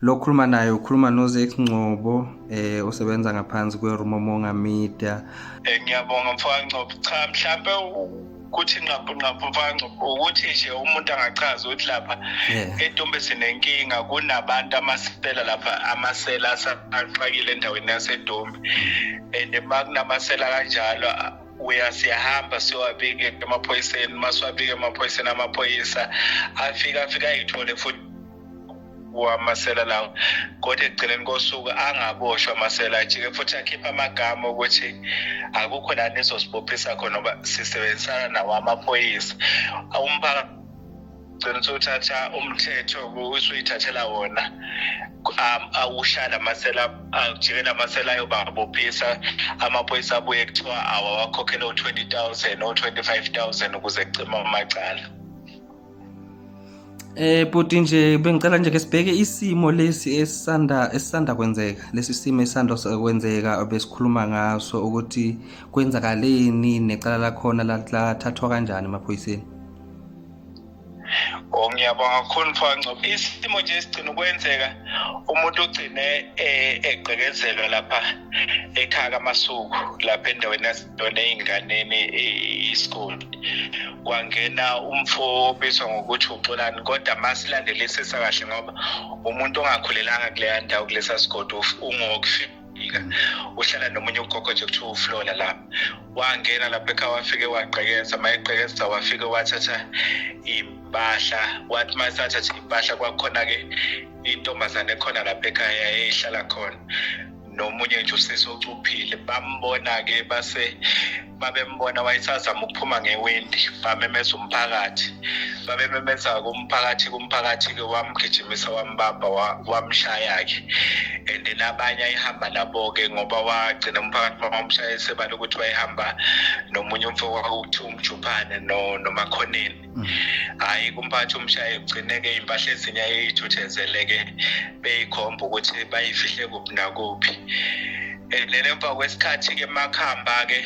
lo khuluma naye ukhuluma nozex ngcobo eh osebenza ngaphansi kwerumomonga media eh, ngiyabonga mfowangcobo cha mhlampe ukuthi nqaphu nqaphu mfowangcobo ukuthi nje umuntu angachaza ukuthi lapha etombe sinenkinga kunabantu amasela lapha amasela asaqakile endaweni yasedombe and makunamasela kanjalo uya siyahamba siwabike emaphoyiseni uma siwabike emaphoyiseni amaphoyisa afika afika ayithole futhi wamasela lawo kodwa ekugcineni kosuku angaboshwa amasela ajike futhi akhipha amagama ukuthi akukho la nizosibophisa khona ngoba sisebenzisana nawo amaphoyisa umphakathi gcina usuthatha umthetho usuyithathela wona um, awushaya la masela ajike la masela ayobabophisa amaphoyisa abuye kuthiwa awawakhokhele u-twenty thousand o-twenty five thousand ukuze kucima amacala Eh bhuti nje bengicela nje ke sibheke isimo lesi esisanda esisanda kwenzeka lesi simo esisanda kwenzeka besikhuluma ngaso ukuthi kwenzakaleni necala lakhona lathathwa kanjani emaphoyiseni Oh ngiyabonga kakhulu mfangco isimo nje sigcina ukwenzeka umuntu ugcine eh, egqekezelwa lapha ekhaya kaMasuku lapha endaweni yase yona ey'nganeni i-school kwangena umfo obizwa ngokuthi uxolani kodwa masilandelisisa kahle ngoba umuntu ongakhulelanga kuleya ndawo kulesa sigodi ungokufika wafika uhlala nomunye ugogo nje kuthiwa uflola lapha wangena lapha ekhaya wafike wagqekeza uma egqekeza wafike wathatha iy'mpahla wathi uma esathatha iy'mpahla kwakhona-ke intombazane ekhona lapha ekhaya eyihlala khona nomunye nje usisi ocuphile bambona-ke base babembona wayesazama ukuphuma ngewindi bamemeza umphakathi babememeza kumphakathi kumphakathi-ke wamgijimisa wambamba wamshaya-ke and then abanye ayihamba nabo-ke ngoba wagcina umphakathi bamamshaye sebala ukuthi wayehamba nomunye umfo wakuthiwa umjuphane nomakhoneni hhayi kumphathi umshaye kugcineke iy'mpahla ezinye ayeyithuthenzeleke beyikhomba ukuthi bayifihle kuphi nakuphi and then emva kwesikhathi-ke makuhamba-ke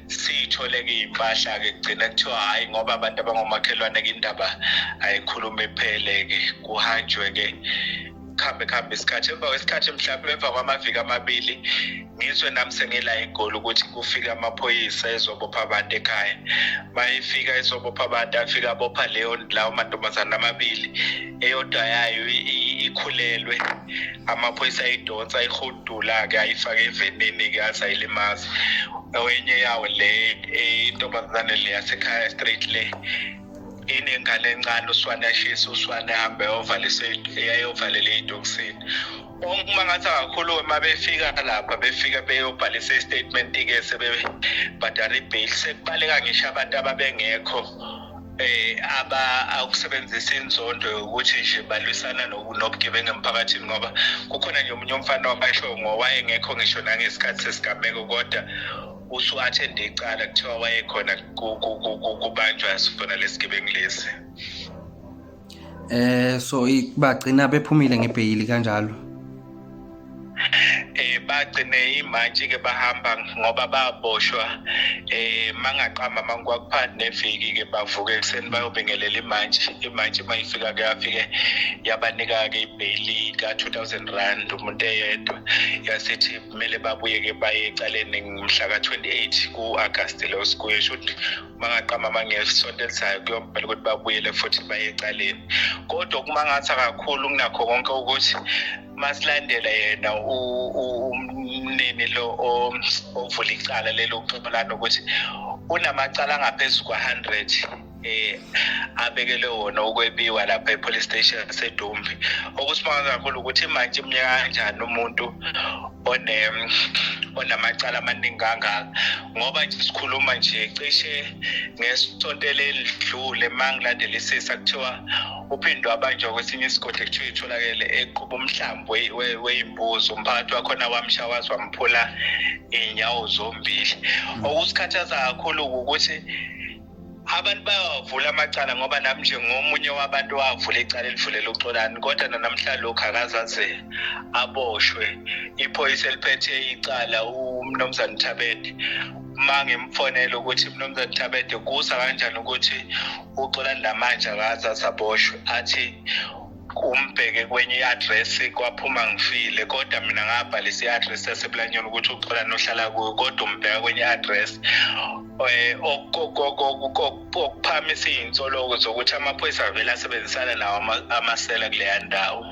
siyithole-ke iy'mpahla-ke kugcina kuthiwa hhayi ngoba abantu abangomakhelwane-ke indaba ayikhulume iphele-ke kuhanjwe-ke kuhambe kuhambe isikhathi emva kwesikhathi mhlawumbe emva kwamaviki amabili ngizwe nami sengila egoli ukuthi kufika amaphoyisa ezobopha abantu ekhaya uma ifika izobopha abantu afika abopha leyo lawo mantombazane amabili eyodwa yayo ikhulelwe amaphoyisa ayidonsa ayihudula-ke ayifake evenini-ke aze ayilimazi enye yawo le intombazane le yasekhaya straight le inengane encane uswane ashise uswane ahambe ayovalisa eyayovalela ey'tokisini uma ngathi angakhuluma uma befika lapha befika beyobhalisa istatement-ke sebebhadala ibail sekubaleka ngisho abantu ababengekho eh aba awukusebenzisa inzondo ukuthi nje balwisana nobugebengu emphakathini ngoba kukhona nje omunye umfana wabasho ngowayengekho ngisho nangesikhathi sesigameko kodwa usuathende icala kuthiwa wayekhona kubanjwa sifuna lesigebengu lesi Eh so bagcina bephumile ngebheyili kanjalo. Eh bagcine imantshi ke bahamba ngoba baboshwa eh mangaqamba mankwakuphansi neviki ke bavuke ekseni bayobingelela imantshi imantshi mayifika ke afike yabanika ke ibheyili ka 2000 rand umuntu eyedwa yasithi kumele babuye ke baye ecaleni mhla ka 28 ku August lo sikuye shothi bangaqamba amangela isonto elizayo kuyomele ukuthi babuyele futhi baye ecaleni kodwa okumangatha kakhulu kunakho konke ukuthi masilandela yena umnini lo ovula icala lelo uxoxelana ukuthi unamacala angaphezu kwa-hundred eh abekele wona ukwebiwa lapha epolice station yaseDumbi okusimaza kakhulu ukuthi manje imnyaka kanjani umuntu one onamacala amaningi kangaka ngoba nje sikhuluma nje cishe ngesonto elidlule mangilandelisisa kuthiwa uphindwe abanjwa kwesinye isigodi kuthiwa itholakele eqhuba umhlambi weyimbuzi umphakathi wakhona wamsha waze wamphula iy'nyawo zombili okusikhathaza kakhulu ukuthi abantu bayawavula amacala ngoba nami nje ngomunye wabantu wavula icala elivulela uxolani kodwa nanamhla lokhu akazaze aboshwe iphoyisa eliphethe icala umnumzane thabede uma ngimfonele ukuthi mnumzane thabede kusa kanjani ukuthi uxolani namanje akazaze aboshwe athi umbheke kwenye i-address kwaphuma ngifile kodwa mina ngabhalisa i-address yasebulanyoni ukuthi uxola nohlala kuyo kodwa umbheka kwenye i-address um eh, okuphamisa iy'nsoloko zokuthi amaphoyisa avele asebenzisana nawo amasela kuleya ndawo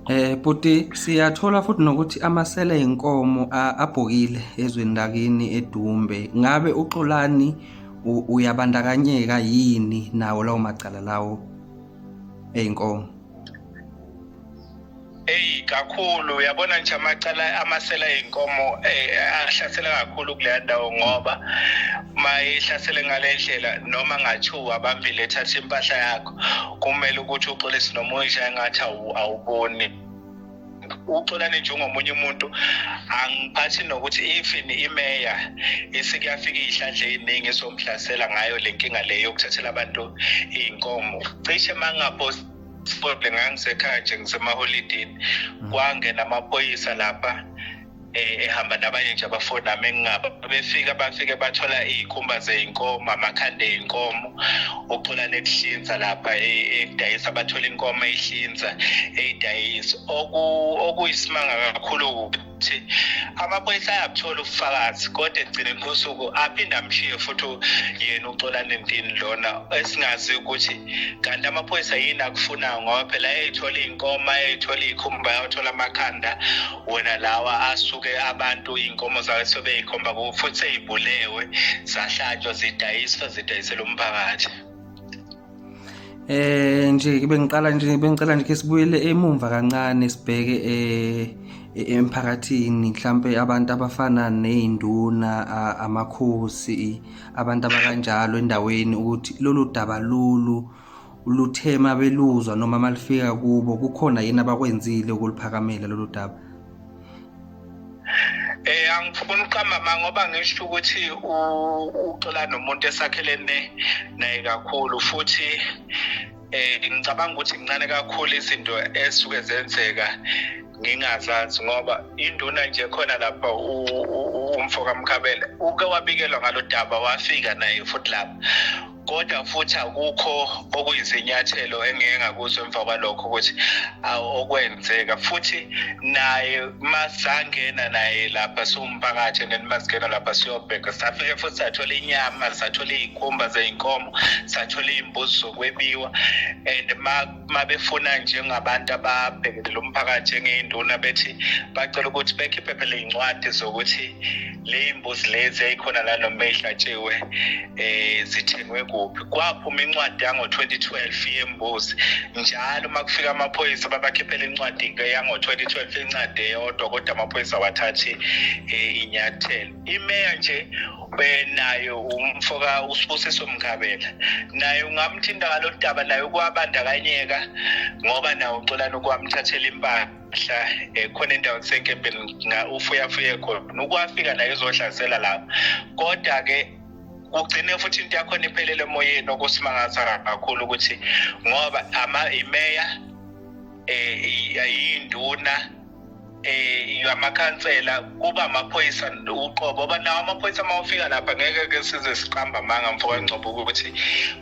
Eh buti siyathola futhi nokuthi amasela enkomo abhokile ezweni lakini edumbe ngabe uxolani uyabandakanyeka yini nawo lawo macala lawo eyi nkomo eyi kakhulu uyabona nje amacala amasela ey'nkomo eh, ahlasela kakhulu kuleya ndawo ngoba uma ihlasele ngale ndlela noma ngathiwa abambile ethatha impahla yakho kumele ukuthi uxolise noma uyishaye ngathi awuboni uxolani njengomunye umuntu angiphathi nokuthi even imeya isikuyafika iy'hlandla ey'ningi esomhlasela ngayo le nkinga le yokuthathela abantu iy'nkomo cishe uma ngingapost sport ngangisekhaya nje ngisemaholidini mm. kwangena amaphoyisa lapha eh, ehamba nabanye nje abafuni nami engingaba befika bafike bathola iy'khumba zey'nkomo amakhanda ey'nkomo ucula nekuhlinza lapha ekudayisa e, bathola inkomo eyihlinza eyidayisa okuyisimanga kakhulu ukuthi amaphoyisa ayabuthola ubufakazi kodwa ekugcineni kosuku aphinde amshiye futhi yena uxolane ndini lona esingazi ukuthi kanti amaphoyisa yini akufunayo ngoba phela eyayithola iy'nkomo ayayithola iy'khumba yawathola amakhanda wona lawa asuke abantu iy'nkomo zake sebeyikhomba kuwo futhi sey'bulewe zahlatshwa zidayiswa zidayisela umphakathi eh nje bengiqala nje bengicela nje ke sibuyele emumva kancane sibheke eh emphakathini mhlambe abantu abafana nezinduna amakhosi abantu abakanjalo endaweni ukuthi lolu daba lolu uluthema beluzwa noma malifika kubo kukhona yini abakwenzile ukuliphakamela lolu daba Eh angifuni uqamba ma ngoba ngisho ukuthi uxola nomuntu esakhelene naye kakhulu futhi eh ngicabanga ukuthi incane kakhulu izinto esuke zenzeka ngingazazi ngoba induna nje khona lapha umfo kamkhabela uke wabikelwa ngalodaba wafika naye futhi lapha kodwa futhi akukho okuyizinyathelo engeke ngakuzwa emva kwalokho ukuthi okwenzeka futhi naye masangena naye lapha siwumphakathi and then masingena lapha siyobheka safike futhi sathola inyama sathola iy'khumba zey'nkomo sathola iy'mbuzi zokwebiwa and uma befuna njengabantu ababhekele lo mphakathi njengey'nduna bethi bacela ukuthi bekhiphe phela iy'ncwadi zokuthi ley'mbuzi lezi eyikhona la noma ey'hlatshiwe um eh, zithengwe kuphi kwaphuma incwadi yango-2012 yembuzi njalo uma kufika amaphoyisa babakhiphela incwadi-ke yango-2012 incwadi eyodwa kodwa amaphoyisa awathathi um eh, inyathelo imeya nje nayo umfoka usibusiso mkhabela naye ungamthinta ngalo daba naye ukwabandakanyeka ngoba nawo uxolani ukwamthathela impahla mhla eh, khona endaweni senkempeni ufuyafuye khona ukwafika naye uzohlasela lapho kodwa-ke kugcine futhi into yakhona iphelele emoyeni okusimangaza kakhulu ukuthi ngoba imeya um eh, yinduna eh yamakhansela kuba amaphoyisa uqobo oba nawo amaphoyisa uma ufika lapha ngeke ke size siqamba amanga mfo kaNgcobo ukuthi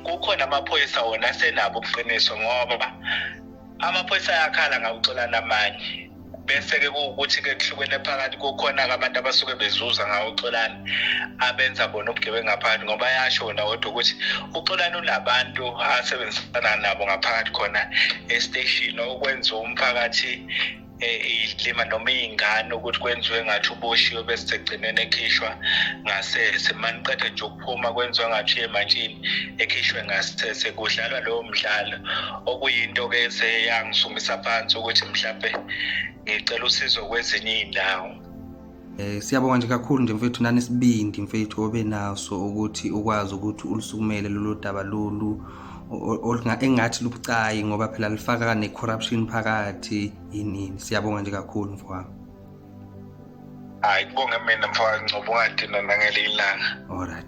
kukhona amaphoyisa wona senabo ubuqiniso ngoba amaphoyisa ayakhala ngawuxolana amanye bese-ke kuwukuthi-ke kuhlukene phakathi kukhona-ke abantu abasuke bezuza ngawo uxolani abenza bona ubugebengu ngaphakathi ngoba ayasho wona kodwa ukuthi uxolani unabantu asebenzisana nabo ngaphakathi khona esiteshini okwenza umphakathi iyilima noma iy'ngane ukuthi kwenziwe ngathi uboshiwe bese segcineni ekhishwa ngasese maniqeda nje ukuphuma kwenziwa ngathi uyemantshini ekhishwe ngasese kudlalwa lowo mdlalo okuyinto-ke eseyangisukumisa phansi ukuthi mhlawumbe ngicela usizo kwezinye iy'ndawo Eh siyabonga nje kakhulu nje mfethu nani sibindi mfethu obe naso ukuthi ukwazi ukuthi ulisukumele lolu daba lolu engathi lubucayi ngoba phela lifaka ne-corruption phakathi yinini siyabonga nje kakhulu mfowami hayi kubonge mina mfowami ncoba ungadinwa nangelinye ilanga olright